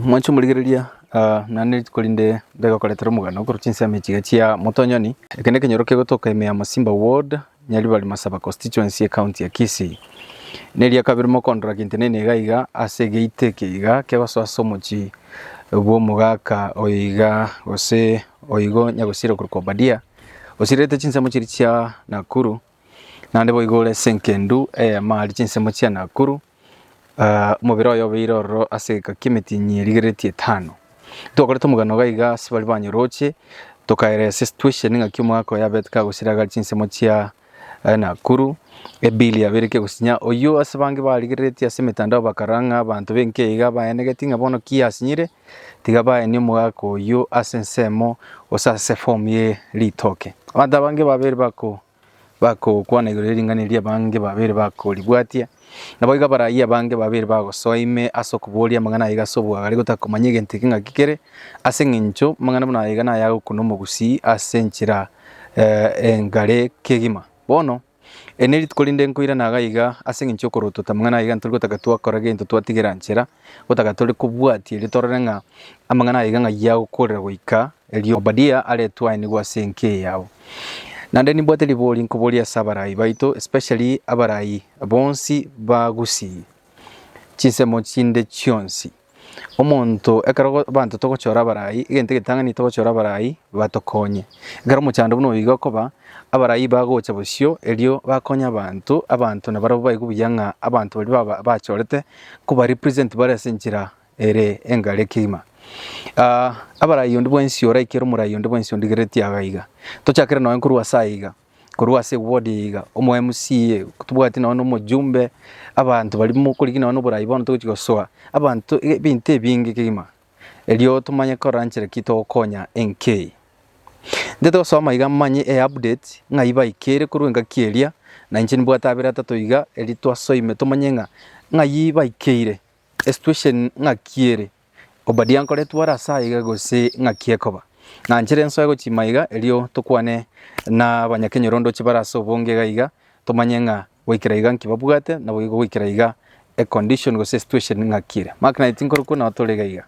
Mwanche omorigereria, naende rituko rinde ndegokoretera omoganda okorwa chinsemo echiga chia Motonyoni. Eke nekenyoro kegotoka ime ya Masimba ward, Nyaribari Masaba constituency, ecounty ya Kisii. Neria kabere mokondora gentenene iga iga ase egeita eke iga kegosoa ase omochie bw'omogaka oyo iga gose oigo nyagosiera okorokwa Obadia osirerete chinsemo chiria chia Nakuru. Naende boigo ore ase engendu eyemo aria chinsemo chia Nakuru, omobere oye obeire ororo ase egeka ki'emetinyi erigeretie etano. Ntwakorete omogano iga iga ase baria banyoroche, tokaelesa esituation ng'aki omogaka oye abete kagosiragari chinsemo chia Nakuru, ebili yabeire kegosinya. Oyio ase bange barigereretie ase emetandao bakara ng'a abanto b'enka iga baenegeti ng'a bono ki asinyire? tiga baenie omogaka oyio ase ensemo, gose ase efomu ye ritoke. Abanto abange babere bagokwana igoro ye ring'ana eria abange babere bakoribwatia, naboigo abarayia abange babere bagosoa ime ase okoboria amang'ana aiga ase obwagare gotakomanya egento eke ng'aki kere, ase eng'encho amang'ana buna aiga naye agokuna omogusii ase enchera engare kegima. Bono. Eri ne rituko rinde nkoirana iga iga ase engencho y'okorotota, amang'ana aya iga ntori gotaka twakora gento twatigera nchera, gotaka tore kobwatia erio torore ng'a amang'ana aya iga ng'ayio agokorera goika erio Obadia aretwe ainigwe ase enka eye yabo. Naende nimbwate ribori nkoboria ase abarai baito, especially abarai bonsi ba Gusii, chinsemo chinde chionsi. Omonto ekero abanto togochora abarai, egento egetang'ani togochora abarai batokonye. Ekero omochando buna oyo iga okoba, abarai bagocha bosio erio bakonye abanto, abanto nabarabwo baigwe buya ng'a abanto baria baba bachorete kobarepresent bare ase enchera ere engare kegima. Abarai onde bwensi oraikire omorai onde bwensi ondigereri tiaga iga, tochakere nonye korwa ase aiga. korwa ase ewodi eye iga, omoMCA, tobwati nonye na omojumbe, abanto baria mokorigia nonye na oborai bono togochi gosoa, abanto ebinto ebinge kegima, erio tomanye korora nchera ki togokonya enka eye. Ntaete gosoma iga manye eupdate ng'ai baikere korwa engaki eria, na inche nimbwate abere atato iga, erio twasoime tomanye ng'a ng'ai baikeire, esituation ng'aki ere. Obadia nkoretwe ore ase aiga gose ng'aki ekoba? Ng'anchere ensoe gochia maiga erio tokwane nabanyakenyorondoche bare ase obonge iga iga tomanye ng'a goikera iga nki babwate naboigo goikera iga econdition gose esituation ng'aki ere. Mark 9 tinkorokwa nao tore iga iga.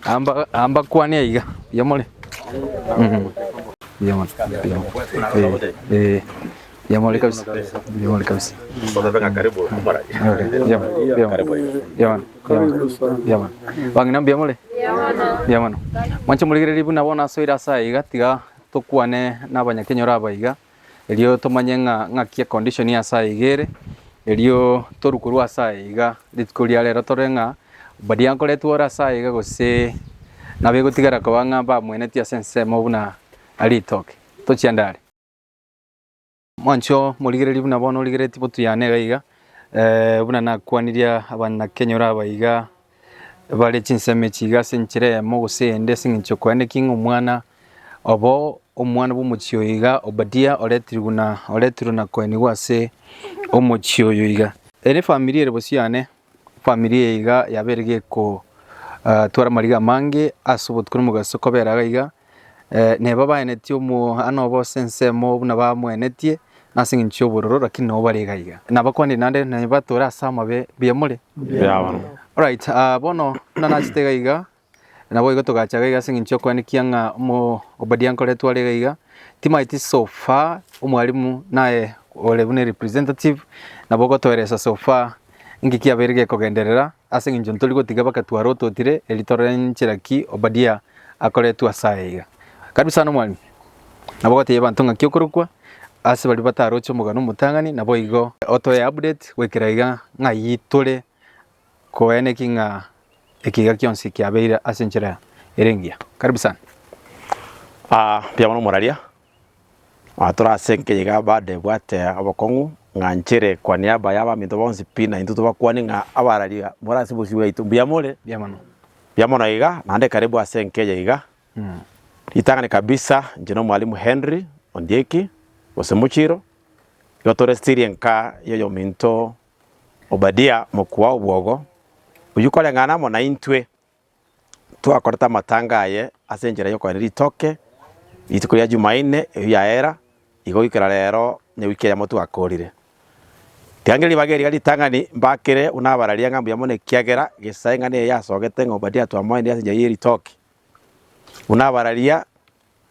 Amba ambakwane aiga buya more? Buya mono buya mono ee ee. Yamore kabisa. Yamore kabisa. Osabe ng'a karibu omora. Yamore. Yamore. Yamore. Yamore. Bang'ina mbuya more? Mbuya mono. Mwanche morigererie buna bono asoire ase aya iga tiga tokwane n'abanyakenyoro aba iga erio tomanye ng'a ng'aki econdition ya ase aya iga ere erio torwe korwa ase aya iga rituko ria rero tore ng'a baria nkoretwe ore ase aya iga gose nabo egotigara koba ng'a mbamwenetie ase ensemo buna ritoke. Tochiende are. Mwancho morigererie buna bono origeretie botuyane iga iga, eh, buna nakwanirie abanakenyoro aba iga bare chinsemo echi iga ase enchera eyemo gose eyende ase eng'encho yokoenda eking'a omwana obo omwana bw'omochie oyo iga Obadia oretirwe buna oretirwe na koenigwa ase omochie oyo iga. Ere efamiri ere bosio yane. Famiri eye iga yabeire gekotwara amariga amange ase obotuko na omogaso kobera iga iga, neba baeneti omwana obo ase ensemo buna bamoenetie ase eng'encho y'obororo lakini nabo bare iga iga. Nabakwanire naende neba tore ase amabe mbuya more? Mbuya bono. Alright, bono buna nachete iga iga, Naboigo togacha gaiga ase eng'encho y'okwanikia ng'a omo Obadia nkoretwe are gaiga, timaeti so far omwalimu naye ore buna representative nabo ogotoeresa so far inki kiabeire gekogenderera ase eng'encho ntori gotiga bagatwara ototire eri torore nchera ki Obadia akoretwe ase aya iga. Karibu sana omwalimu. Nabo ogotebia abanto ng'aki okorokwa ase baria bataroche omogano omotang'ani naboigo otoe update goikera iga ng'ai tore koeneki ng'a ekiiga kionsi kiabeire ase enchera ere engiya. Karibu sana. Aa mbuya mono moraria, aa tore ase engencho iga bade ebwate obokong'u ng'a nchere kwa niaba y'abaminto bonsi pi na intwe tobakwane ng'a abarari more ase obosio bwaito. Mbuya more? Mbuya mono. Mbuya mono iga, naende karibu ase engencho eye iga. Ritang'ani kabisa, inche n'omwalimu Henry Ondieki, gose Muchiro, igo tore stiri enka y'oyominto Obadia mokwa obwogo, oyio koreng'ana amo naintwe, twakorete amatanga aye ase enchera y'okoenda ritoke rituko ria Jumaine eyio yaera igo goikera rero ne wiki eyemo twakorire. Tiangira ribaga eriga ritang'ani mbakere buna abararia ng'a mbuya mono ekiagera gesa eng'ana eye yasogete ng'a Obadia twamoenire ase enchera ye ritoke. Buna abararia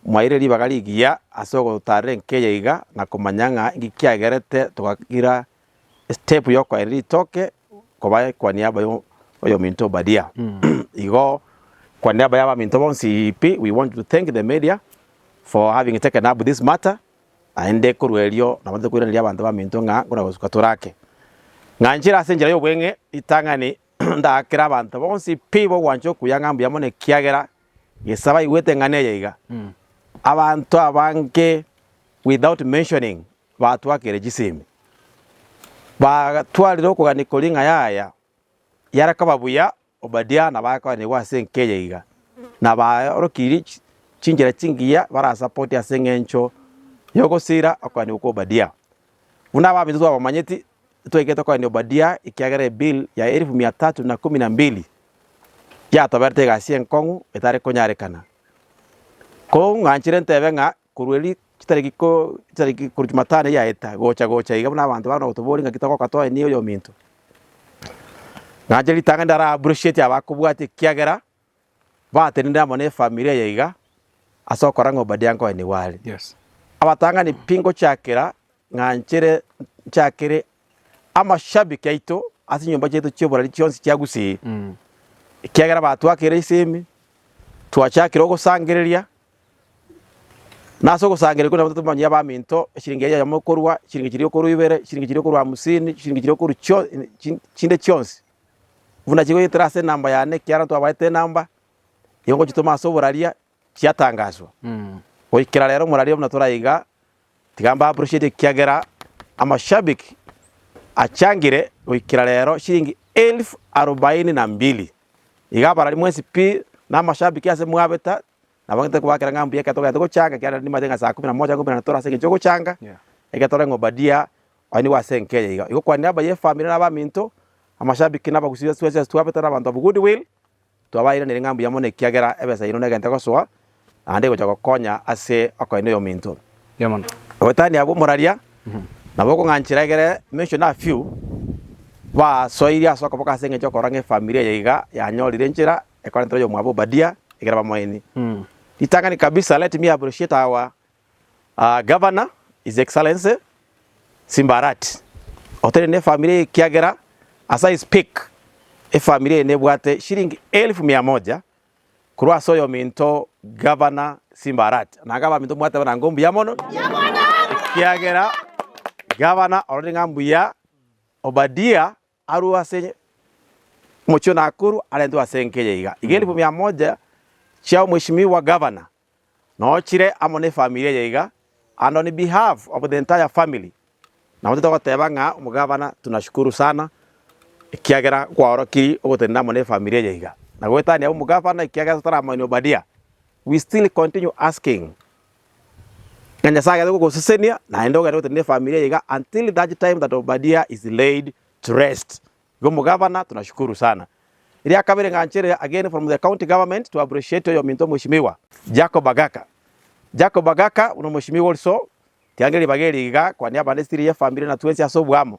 mwaeire ribaga rigiya ase ogotarera enka eye iga na komanya ng'a inki kiagerete togagira Step y'okoaera ritoke koba ekwani yabayo oyominto Obadia. Igo ekwani yabayo abaminto bonsi iipi we want to thank the media for having taken up this matter naende korwa erio nabanto koiraneria abanto baminto ng'a nkona gosuka tore ake. Ng'a nchire ase enchera y'obweng'e ritang'ani ndaakere abanto bonsi pi bogwancha okuya ng'a mbuya mono ekiagera gesa baigwete eng'ana eye iga. Abanto abange without mentioning Batwakire chisemi, bagatwarire okogania koria ng'a yaya yare koba buya Obadia na bagakoranigwa ase enka eye iga, na baorokirie chinchera chingiya barasapote ase eng'encho y'ogosira okoanigwa kwa Obadia. Buna abaminto twabamanyeti, titwaikete okoania Obadia ekiagera ebill ya elfu mia tatu na kumi na mbili yatoberete egasi enkong'u etari konyarekana. Koong'anchere ntebe ng'a Korwa erio chitariki chitariki korwa Chumatano eyio yaeta gocha-gocha iga buna abanto bakona gotobooria ng'a ki togoka toe na oyo ominto. Nache ritang'ani ndaro a appreciate abakobwate ekiagera batenenire amo na efamiri eye iga ase okora ng'a Obadia nkoenigwe are. Abatang'ani pi ngochiakera ng'a nchire nchiakere. amashabiki aito ase chinyomba chiaito chi'oborari chionsi chiagusire, ekiagera batwakire ase ime, twachakire ogosangereria, na ase ogosangereria okwo naboigo tomanyire abaminto, eshiringi eye eyemo ekorwa, eshiringi chiria ekorwa ibere, eshiringi chiria ekorwa hamsini, eshiringi chiria ekorwa chio- e- chi- chinde chionsi, buna chigoetera ase enamba yane ekiagera ntwabaete enamba, nigo ngochitoma ase oboraria. chiatangaswa. Goikera rero moraria buna tore aiga, tiga mba appreciate ekiagera amashabik achangire goikera rero shilingi elfu arobaini na mbili. Iga abarari mwensi pi na amashabik ase mwabeta nabo ngetari kobakera ng'a mbuya ekero togaete gochanga ekiagera nimanyete ng'a saa kumi na moja ngoumera tore ase engencho yogochanga ekero tore ng'a obadia oye nigo ase enka eye iga. Igo kwanera abayi efamiri na abaminto, amashabik na abagusii ase twabeta na abanto abwo goodwill. Twabairaneire ng'a mbuya mono ekiagera ebesa yaino negenta gosoa, naende egocha gokonya ase okoenda oyominto. Oboitania bw'omoraria nabo okong'anchera egere mention a few basoirie ase okoboka ase engencho y'okorora ng'a efamiri eye iga yanyorire enchera ekorentera oyomwabo Obadia egere bamoini ritang'ani kabisa let me appreciate our Our Governor, His Excellency, Simba Arati, oteneine efamiri eye ekiagera as I speak, efamiri eye nebwate shilingi elfu mia moja korwa ase oyominto Governor Simba Arati. Naga abaminto mwateba na ngo mbuya mono, ekiagera Governor ororire ng'a mbuya, Obadia Arue ase omochie ona Akuru arentwe ase enka eye iga, iga elifu mia moja chia omweshimiwa gavana noo chire amo nefamiri eye iga, and on behalf of the entire family nabo titogoteba ng'a omogavana tunashukuru sana ekiagera kwaorokirie ogotenena amo nefamiri eye iga, na goetania omogavana ekiagera totaramanya Obadia, we still continue asking Ng'a Nyasae agende gogosesenia, naende ogende gotenena efamiri eye iga until that time that Obadia is laid to rest. Igo omogabana tunashukuru sana. Eria kabere ng'a nchere again from the county government to appreciate oyominto omweshimiwa, Jacob Agaka. Jacob Agaka buna omweshimiwa also, tiangeria ribaga eri iga, kwania abande still ye efamiri na twensi ase oboamo.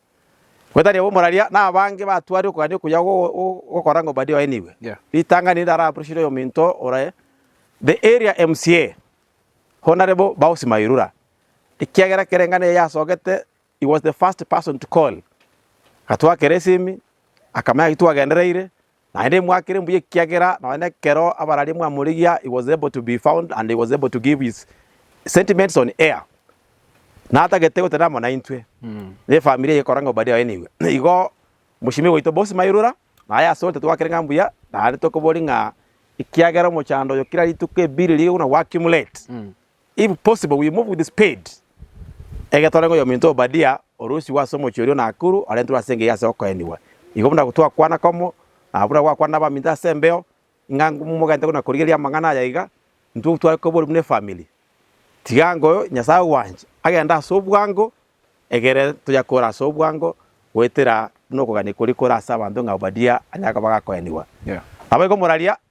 Gose tari obo moraria, nabange batware okogania okuya gokora ng'a Obadia oenigwe. Ritang'ani rinde araburushire oyominto ore the area MCA Honarebo Bausi Mairura, ekiagera kere engano eye yasogete he was the first person to call. Gatwakera esimi akamanya gaki twagendereire, Naende imwakere mbuya ekiagera nonya nekero abararia mwamorigia he was able to be found and he was able to give his sentiments on air, natagete gotenena amo naintwe, na efamiri eye ekoranga obadiah oye nigo. Igo mochimi gwaito bonsi mairura, na aye asore totwakire ng'a mbuya, naende tokoboria ng'a ekiagera omochando oyo kera rituko ebiiri rigokuna o accumulate, If possible we move with speed egetore ng'a oyominto Obadia oroisigwe ase omochie oria o Nakuru arentwe ase engeiyo ase okoenigwa. Igo buna twakwana komo na buna gwakwana nabaminto ase embeo ng'a momogaete buna korigereria amang'ana aya iga intwe tware kobori buna efamily. Tiga ngoyo Nyasae ogwanche agende ase obwango egere tonya kore ase obwango goetera buna okogania koria kore ase abanto ng'a Obadia anyare koba gakoenigwa. Naboigo moraria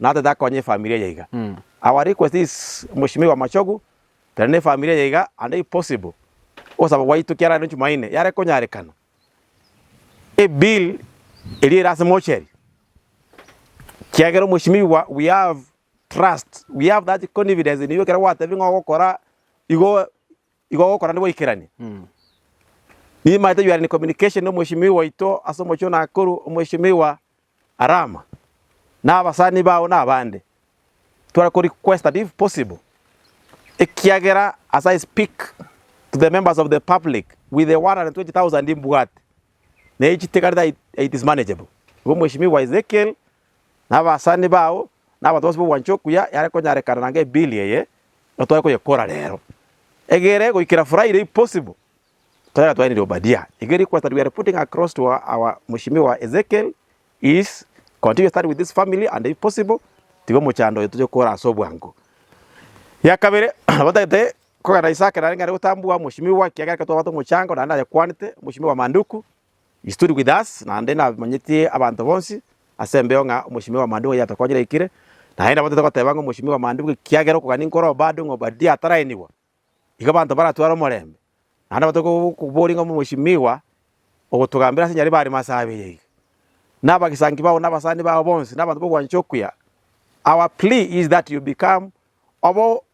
natete akonye efamiri eye iga. Our request is Mweshimiwa Machogu tari nefamiri eye iga and if possible ogosaba gwaito kiara rero Jumaine yare konyarekana ebill eria ere ase mocheri kiagera Mweshimiwa we have trust we have that confidence in you ekero gwatebie ng'o ogokora igo Igo ogokora nigo oikeranie. Nimanyete you are in communication na omweshimiwa oito ase omochie o Nakuru, omweshimiwa Arama, na abasani bao na abande. Tware ko requested if possible, ekiagera as I speak to the members of the public with the 120,000 mbwate, na echi tigarete it is manageable. Igo omweshimiwa Ezekiel na abasani bao, na abanto bonsi b'obwanchani okuya yare konyarekana na ng'ebili eye, nigo tware koyekora reero. Egere goikera Friday if possible, tore gatwainirie Obadia. Igo erio kwasani we are putting across to our our mweshimiwa Ezekiel is continue study with this family and if possible tiga omochando oyo toche kora ase obwango. Ya kabere, nabo tagete kogenda Isaac narenge are gotambua mweshimiwa ekiagera ekero twabate omochango naende nayekwanete, mweshimiwa Manduku, He stood with us, naende namanyetie abanto bonsi ase embeo ng'a omochimi bwa maandiko yatokonyire aikire, naende nabatete goteba ng'a omochimi bwa maandiko ekiagera okogania nkore obado ng'a Obadia atarainigwa, igo abanto baratware omorembe. Naende nabatete go- koboria ng'a omochimiwa ogotogambera ase Nyaribari ime ase abere iga, na abagesangi bao na abasani bao bonsi, na abanto b'ogwancha okuya, our plea is that you become obe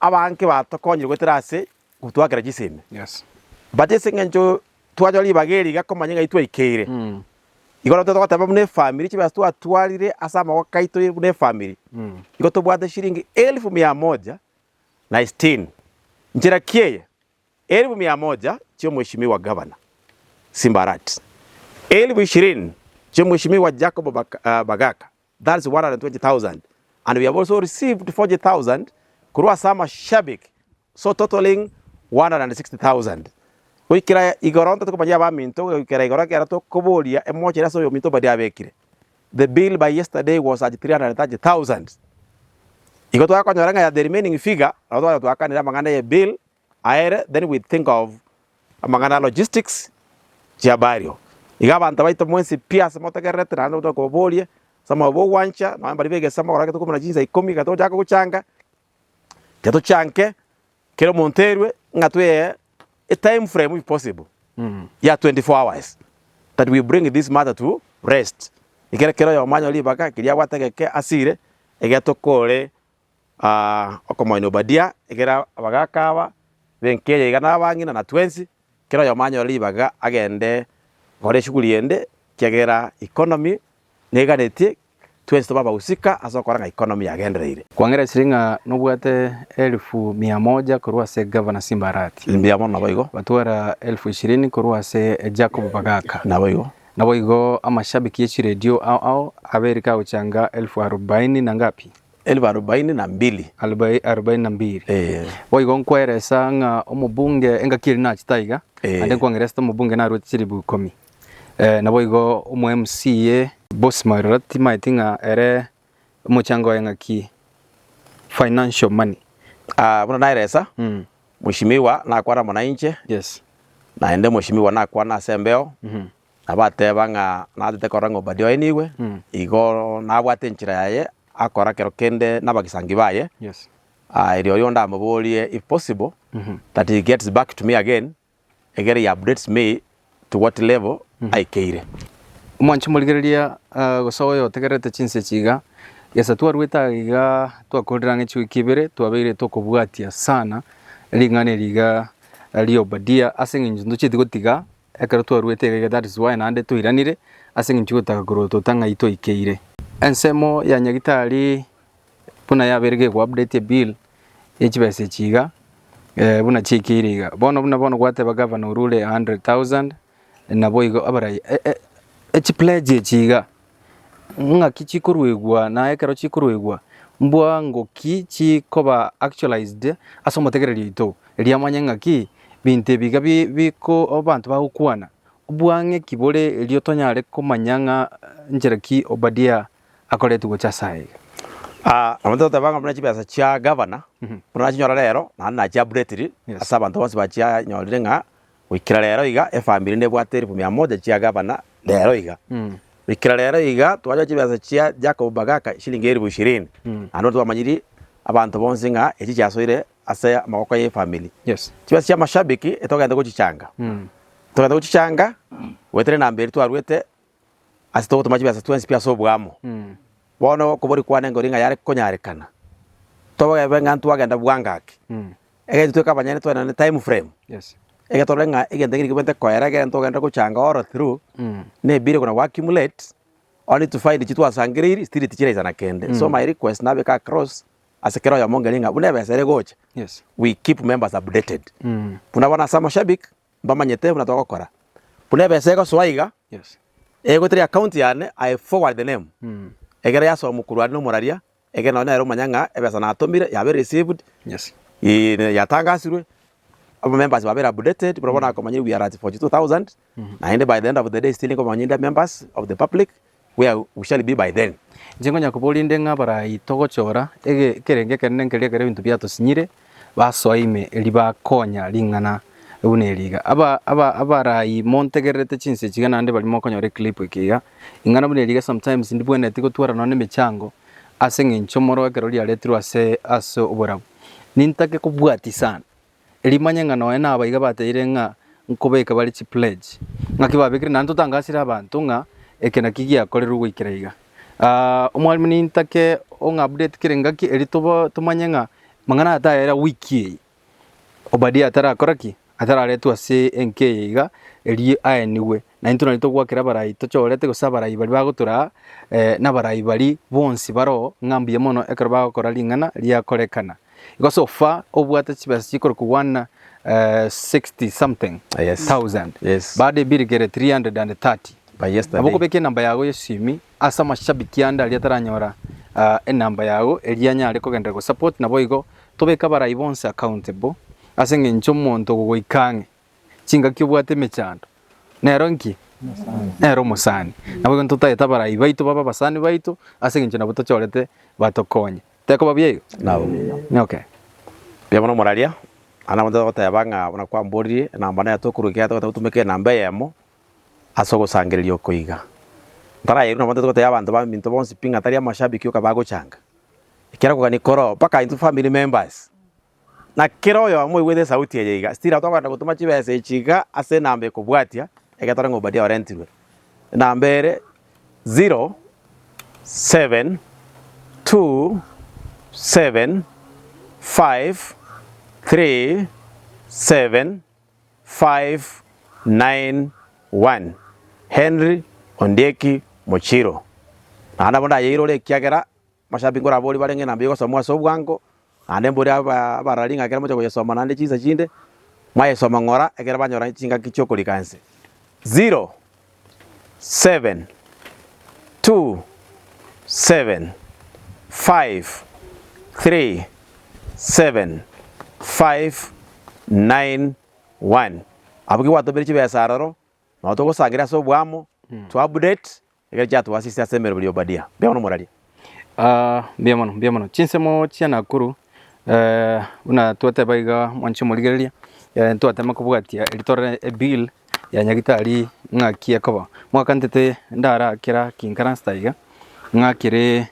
Abange batokonyire goetera ase gotwakera chisemi. But ase eng'encho twachora ribaga eri iga komanya ng'ai twaikeire, igo nabo togoteba buna efamiri chibesa twatwarire ase amagoko aito buna efamiri, igo tobwate shilingi elfu mia moja na sitini. Nchera ki eye? Elfu mia moja chia Mweshimiwa Gavana Simbarati, elfu ishirini chia Mweshimiwa Jacob Bagaka, thats 120,000, and we have also received 40,000 korwa ase amashabik, so totalling 160,000. Goikera igoro ntotete komanyia abaminto goikera igoro ekero tokoboria emochere ase oyominto oboria abekire. The bill by yesterday was at 330,000. Igo twakonyora ng'a the remaining figure nabo tware twakanire amang'ana ye bill Aere then we think of amang'ana a logistics chia burial. Iga abanto abaito mwensi pi ase motegererete naende omonto akobaborie ase omoyo bw'ogwancha nonya mbaria b'egesemo ekero agoteba korwa chinsa ikomi ekero togochaka gochanga tiga tochanke kera omonto erwe ng'a tweyee etime frame if possible ya 24 hours that we bring this matter to rest ekero kera oyomo anyore ribaga keria agwate egeke asire egetokore Aa okomoina Obadia, egera abagaaka aba b'enka eye iga nabang'ina, na twensi, kera oyomo anyore ribaga agende gokora eshughuli ende, ekiagera economy neganetie, twensi tobe abagusika ase ogokora ng'a economy yagendereire. Kwang'eresirie ng'a nobwate elifu mia moja korwa ase Gavana Simbarati. Mbuya mono, naboigo. Batwara elifu ishirini korwa ase Jacob Bagaaka. Naboigo. Naboigo amashabiki y'echiredio ao ao aberike agochanga elifu arobaini na ngapi? Elfu arobaini na mbili. Elfu arobaini na mbili. Ee. Boigo nkweresa ng'a omobunge engaki eria nachi taiga, Ee. ande nkwang'ereste omobunge naruete chilifu ikomi. Eh, naboigo omo MCA Boss Mairora timaeti ng'a ere omochango oye ng'aki financial money. Ah, buna naeresa, Mm. Mheshimiwa nakwana amo nainche, Yes. naende Mheshimiwa nakwana ase embeo, Mhm. Nabateba ng'a natete korora ng'a Obadia oenigwe, igo nabwate enchera yaye akora kero kende nabagisangi baye, Yes. ah, erio oyonde amoborie if possible that he gets back to me again, egere he updates me to what level aikeire. Omwanchi morigereria ah, gose oyo otegererete chinse echi iga, gesa twarwete aa iga twakorire ang'e chiwiki ibere twabeire tokobwatia sana ring'ana eri iga ria Obadia ase eng'encho ntochieti gotiga Ekero twaruete egaiga that is why naende toiranire ase engencho y'ogotaka korotota ng'ai toikeire. Ensemo ya Nyagitari buna yabeire geku update ebill ye chibesa echi iga eh, buna chiaikeire iga. Bono buna bono gwateba Gavana orure 100,000 naboigo abarai e e echi pledge echi iga. Ng'aki chikoruegwa na ekero chikoruegwa, mbwa ngoki chikoba actualized ase omotegereria oito, erio amanye ng'aki binto ebiga biko abanto bagokwana, obwang'eki bore erio tonyare komanya ng'a nchera ki Obadia akoretie gocha ase aya iga. Nabo togoteba ng'a buna chibesa chia gavana, buna nachinyora rero, naende nachia-updatiri ase abanto bonsi bachinyorire ng'a Goikera rero iga efamiri nebwate elfu mia moja chia gavana rero iga. Goikera rero iga twanyorire chibesa chia Jacob Bagaka eshilingi elfu ishirini. Naende bono twamanyiri abanto bonsi ng'a echi chiasoire ase amaboko y'efamiri. Yes. Chibesa chia mashabiki etogete gochichanga. Togete gochichanga goetera enamba eria twarwete ase togotoma chibiasa twensi pi ase oboamo. Bono okobori kwane ngori ng'a yare konyarekana, togebe ng'a ntwagenda bwango ake, egento tweke abanyene tore naende time frame, ege torore ng'a egento eke nigo bwente koera ekero ntogenda gochanga all through, ne ebire kona go accumulate, only to find echio twasangereiri still tichiraisa na kende. So my request nabeke across ase kera oyomo ngeri ng'a buna ebesa ere gocha, we keep members updated. Buna bono ase amashabik. mbamanyete buna togokora. Buna ebesa egosoa iga, egwe tari account yane, I forward the name. Egere yasomwa korwa are nomoraria, egere nonye nere omanye ng'a ebesa natomire yabeire received, eh, yatangasirwe, aba members babeire updated, buna bono akomanya we are at 42,000, naende by the end of the day still nkomanya inde members of the public, where we shall be by then. Inche nkonya koboria inde ng'a barai togochora ege ekerenge ekenene nkeria ekero ebinto biatosinyire, basoa ime eria bakonya ring'ana buna eri iga. Aba aba abarai montegererete chinsa echi iga naende baria mokonyora eclip eke iga, ring'ana buna eri iga sometimes ndibwenereti gotwara nonya na emechango ase eng'encho moro ekero riaretirwe ase ase oborabu, nintake kobwatia sana. rimanye ng'a nonya nabo iga bateire ng'a nkobeke bare chipledge, ng'aki babekire naende totangasire abanto ng'a eke naki giakorerwe goikera iga. Omwalimu nintake ong'update kera engaki erio toba tomanye ng'a amang'ana aya tayera week eye, Obadia atarakora ki? Atararetwe ase enka eye iga erio aenigwe. Naintwe nari togoakera abarai tochorete gose abarai baria bagotoraa nabarai baria bonsi baroo ng'a mbuya mono ekero bagokora ring'ana riakorekana. Igo so far obwate chibesa chikore kogwana eh, 60 something Yes. thousand Yes. baada ebirigere 330 By yesterday. nabo okobeka enamba yago yesimi ase amashabiki ande aria ataranyora ah, enamba yago eria anyare kogendera gosupport nabo igo tobeka barai bonse accountable ase eng'encho omonto ogogoika ang'e chingaki obwate emechando nero nki nero omosani nabo igo ntotagete abarai baito baba abasani baito ase eng'encho nabo tochorete batokonye Tekoba buya igo? Nabo. Okay. Buya mono moraria. Naende abanto bagoteba ng'a buna kwamboririe enamba neye tokorwa ekiagera togoeta gotumeka enamba eyemo ase ogosangereria oko iga. Ntarayerwe nabo ntari gotebia abanto baminto bonsi pi ng'a tari amashabiki oka bagochanga. Ekero okogania koroo mpaka intwe family members Na kera oyomo oigwete esauti eye iga, stira togenda gotoma chibesa echi iga ase enamba ekobwatia egetore ng'a Obadia orentirwe. Enamba ere 0727537591 Henry Ondieki Mochiro. Naende nabo ndayeirore ekiagera Moshambi nkoraborie bare ng'ina mbuya ogosomwa ase obwango, naende mborie abarari ng'a ekero mochia koyesoma naende chinsa chinde, mwayesoma ng'ora ekero banyora chingaki chi'okorika ense. 0727537591 Abwo ki gwatomire chibesa aroro, nabo togosangereria ase oboamo, to update. Ekero chiatwasisire ase emeroberi y'Obadia, mbuya mono moraria. Aa, mbuya mono, mbuya mono. Chinsemo chia Nakuru, eh, buna twateba iga mwanche morigereria, eh, ntwatema kobwatia eri tore ebill ya nyagitari ng'aki ekoba. Mwakantete ndara kera kinkarasta iga, ng'a kere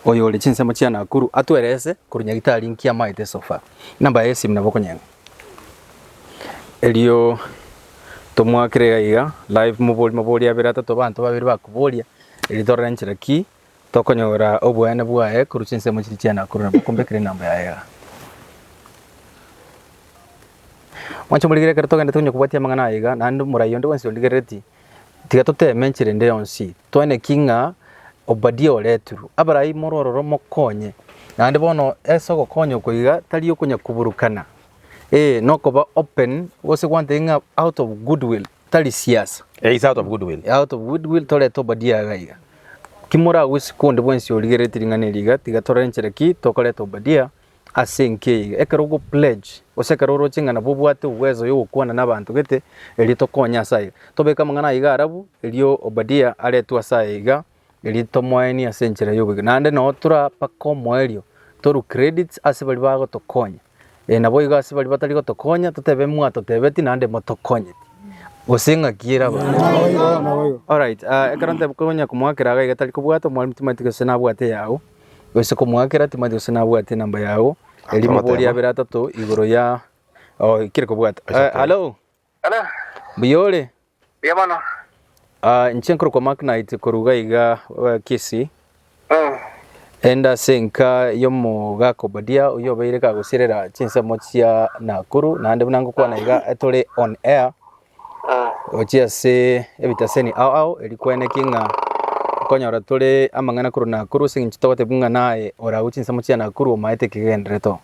oyore chinsemo chia Nakuru atwerese korwa nyagitari nki amaete so far, enamba yaye y'esimu nabo okonyene. Erio tomoakere iga iga live mobori mabori abere atato abanto babere bakoboria erio torore enchera ki tokonyora obweene bwaye korwa chinsemo chiria chia Nakuru nabo okombekera enamba yaye igaa. Mwanche morigereria ekero togenda tonya kobwatia amang'ana aya iga naende omorai onde bwensi ondigereretie Tiga toteeme enchera ende yonsi toene ki ng'a Obadia oretirwe. Abarai more ororo mokonye. Naende bono ase ogokonya oko iga tari okonyakuburukana, ee, nokoba open gose gwantebi ng'a out of goodwill tari siasa. Eh, it's out of goodwill. Out of goodwill torete Obadia iga iga. Ki moragusie konde bwensi origerereti ring'ana eri iga, tiga torore enchera ki tokoreta Obadia Ase enki eyio, ekero ogopledge, gose ekero oroche ng'a nabo obwate uwezo yogokwana nabanto gete, erio tokonye ase ayio. Tobeke amang'ana aiga arabu, erio Obadia aretwe ase aya iga, erio tomoenie ase enchera y'oboigo. Naende noo tore mpaka omoerio, toru credits ase baria bagotokonya, eh naboigo ase baria batari gotokonya, totebe mwatotebeti naende motokonyeti, gose ng'aki erabe aye. Alright, ekero ntebe konya komoakera iga iga tari kobwata, omwarimu timanyeti gose nabwate eyao. Gose komoakera timanyete gose nabwate enamba yago, erio moborie abere atato igoro ya oh, kire kobwata. Eh, Hello, Hello, mbuya ore? buya mono. Ah, inche nkorokwa Mark Knight koruga iga eh, Kisii. Mm. Enda ase enka y'omogaka Obadia oyo obeire kagosirera chinsemo chia Nakuru naende buna ngokwana iga etore on air Gochia ase ebitaseni ao ao, erio kweneki ng'a okonyora tore amang'ana korwa Nakuru ase eng'encho togotebiwa ng'a naye ore agwo chinsemo chia Nakuru omaete ekegenderero to.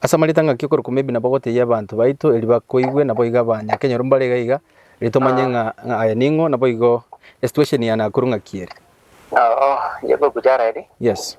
Ase amarieta ng'a ki okorokwa maybe nabo gotebia abanto baito erio bakoigwe nabo iga banyakenyoro mbare iga iga erio tomanye ng'a ng'a aye ning'o nabo igo esituation ya Nakuru ng'a ki ere. Yes.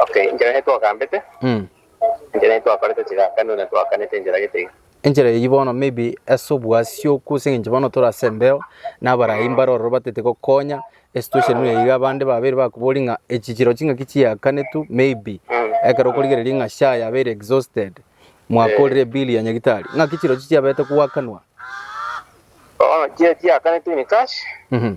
Okay, enchera eye twagambete, Mm. enchera eye twakorete chigakano na twakanete enchera gete iga. Enchera eyio bono maybe ase obwasi okwo ase eng'encho bono tore ase embeo na abarai mbare ororo batete gokonya esituesheni buna iga abande babere bakobori ng'a echi chiro ching'aki chiakanetwe maybe Mm. ekero okorigereria ng'a SHA yabeire exhausted mwakorire ebill ya nyagitari ng'aki chirochio chiaberete koakanwa Bono chire chiakanetwe in cash, Mhm.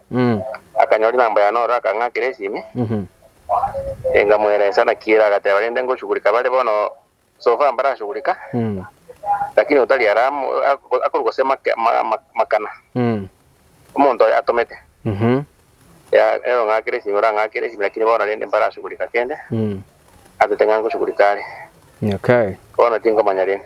Akanyora inamba yane oro, akang'akera esimi, enkamoeresia naki ere, agateba, Rende ngoshugurika bare bono sofa mbarashugurika, lakini otari ara amo ak- akorwa gose make- ma- ma- makana omonto oyo atomete. Ya- Ere ong'akera esimi, orang'akera esimi, lakini bono rende mbarashugurika kende, atete ng'a ngoshugurika are, bono tinkomanya rende.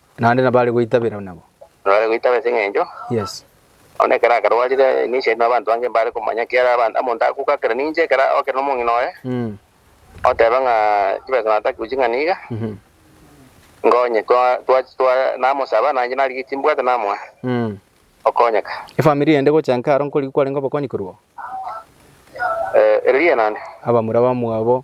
Naende nabare goitabera nabo. Nabare goitabera ase eng'encho. Yes. Onde ekero akarwarire, ninche na abanto bange mbare komanya kiara abanto, omonto agokakera ninche ekero ogokera nomong'ina oye, oteba ng'a chibesa nataki goching'a niga, nkonye twa twa namosaba nainche nari eki mbwate namoa okonyeka. Efamiri ende gocha inka aro nkorigia kwarenge obokonyi korwa oo? Ee, ere riya naende. Abamura bamwabo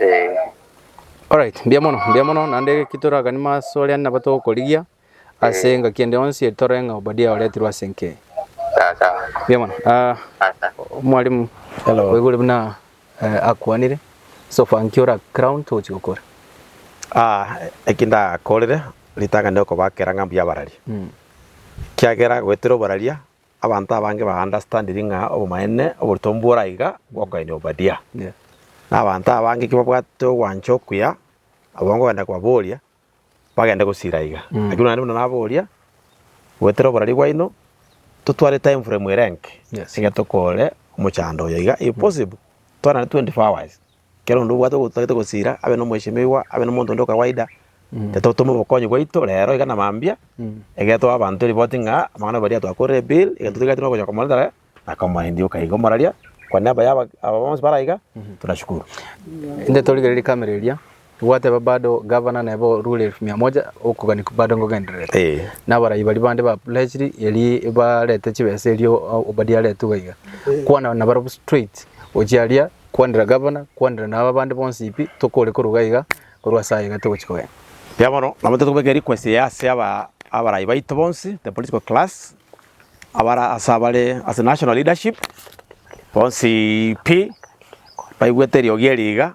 Ee. Alright, mbuya mono, mbuya mono, naende eki toraganie mo ase oria nabo togokorigia ase engaki ende yonsi eri torore ng'a Obadia oretirwe ase enka eye. Sawa sawa. Mbuya mono. Ah, Sawa sawa. mwalimu Hello. oigure buna eh, akwanire so far nki ora crown togochi gokora Ah, eki ndakorire ritang'ani okobakera ng'a mbuya abarari. kiagera goetera obararia Abanto abange baandastandiri ng'a obomaene oborutombu bore aiga bw'okogaina Obadia. Na abanto abange ki babwate ogwancha okuya abwo nkogenda kobaboria, bagende gosiira aiga. Lakini onani buna naboria, Goetera oborari bwaino, totware timeframe ere enke, egento kore omochando oyo iga, if possible, twanane 24 hours. kera onde obwate otagete gosiira, abe na omweseimiwa, abe na omonto onde o kawaida, tototoma obokonyi bwaito rero iga na mambia, egetoa abanto ripoti ng'a amang'ana aria baria twakorire ebill, egento toigati nogocha komoreeta rere, na komoendia o kaiga omoraria, kwa niaba ya aba bonsi bare aiga, tuna shukuru. Inde torigererie kamera eria, Gwateba bado gavana neba orure elfu mia moja okoganikwa bado ngogendererete. Eh. Na abarai baria bande ba Pulesiri eria barete chibesa erio Obadia aretugwa iga. Kwana nabarabwo straight, gochia aria kwanera gavana, kwanera na aba bande bonsi pi, tokore koruga iga, korwa ase aiga togochia kogenda. Erio bono nabo intwe tokobeka erequest eye ase aba abarai baito bonsi, the political class, abare ase abare ase national leadership, bonsi pi, baigwete eriogi eri iga,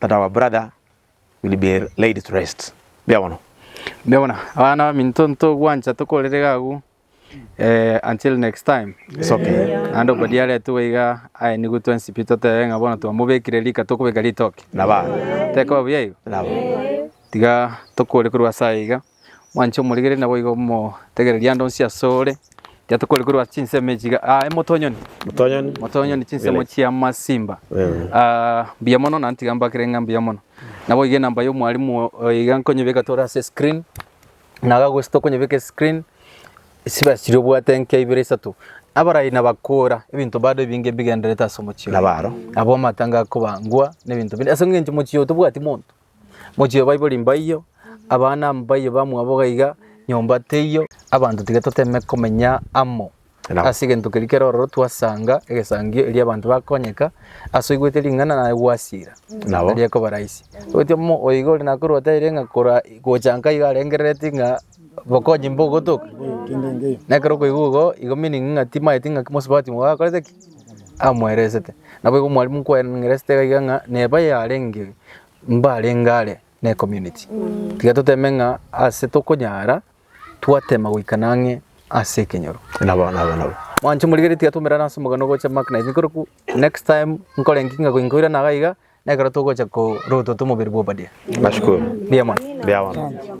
But our brother will be laid to rest. Mbuya bono. Mbuya bono. Abana baminto ntogwancha tokorere iga agwo eh, until next time. It's okay. Naende okodia aretwe iga aye nigo twensi pi totebe ng'a bono twamobekire rika tokobeka ritoke. Naba. Tekoba buya igo. Naba. Tiga tokore korwa ase aye iga. Mwanche omorigereria naboigo omotegererie ande onsi asore, ekiagera tokore korwa ase chinsemo echi iga, ah, emotonyoni, Motonyoni. motonyoni chinsemo Bene. chia amasimba. Mm. Ah, mbuya mono na ntiga mbakere ng'a mbuya mono. Naboigo enamba ya omwalimu o- oyo iga nkonyebeka tore ase screen, na iga gose tokonyebeka escreen, chiba chiria obwate enkia ibere isato. Abarai nabakora, ebinto bado ebinge mbigendererete ase omochie oye. Nabaro. Abwo amatanga akoba ngwa, na ebinto binde. Ase eng'encho omochie oyo tobwati monto. Mochie baibori mbaiyo, abana mbaiyo bamwabo gaiga, nyomba teiyo. Abanto tiga toteme komenya amo Naam. ase egento keria kero ororo twasanga egesangio erio abanto bakonyeka ase oigwete ring'ana naye gwasiira Nabo. eria ekoba rahisi. Oeti omo oigo ore nakorwa oteire ng'a kora gocha nka iga arengerereti ng'a bokonyi mbogotoka. Nekero okoigwa igo, igo meaning ng'a timaeti ng'a mosubati mogakorete ki? amoeresete. Naboigo omwalimu nkwaeneresete iga iga ng'a neba yarenge mbarenge are ne community. Tiga toteme ng'a ase tokonyara twatema goikana ang'e ase ekenyoro. Nabo nabo nabo. Mwanche morigereria tiga twaumerane ase omogano ogocha Mark na Ethnical Group, next time nkore inki ng'a nkoirana iga iga nekero togocha korotote omobere bwa Obadia. Nashukuru. Mbuya mono. Mbuya mono.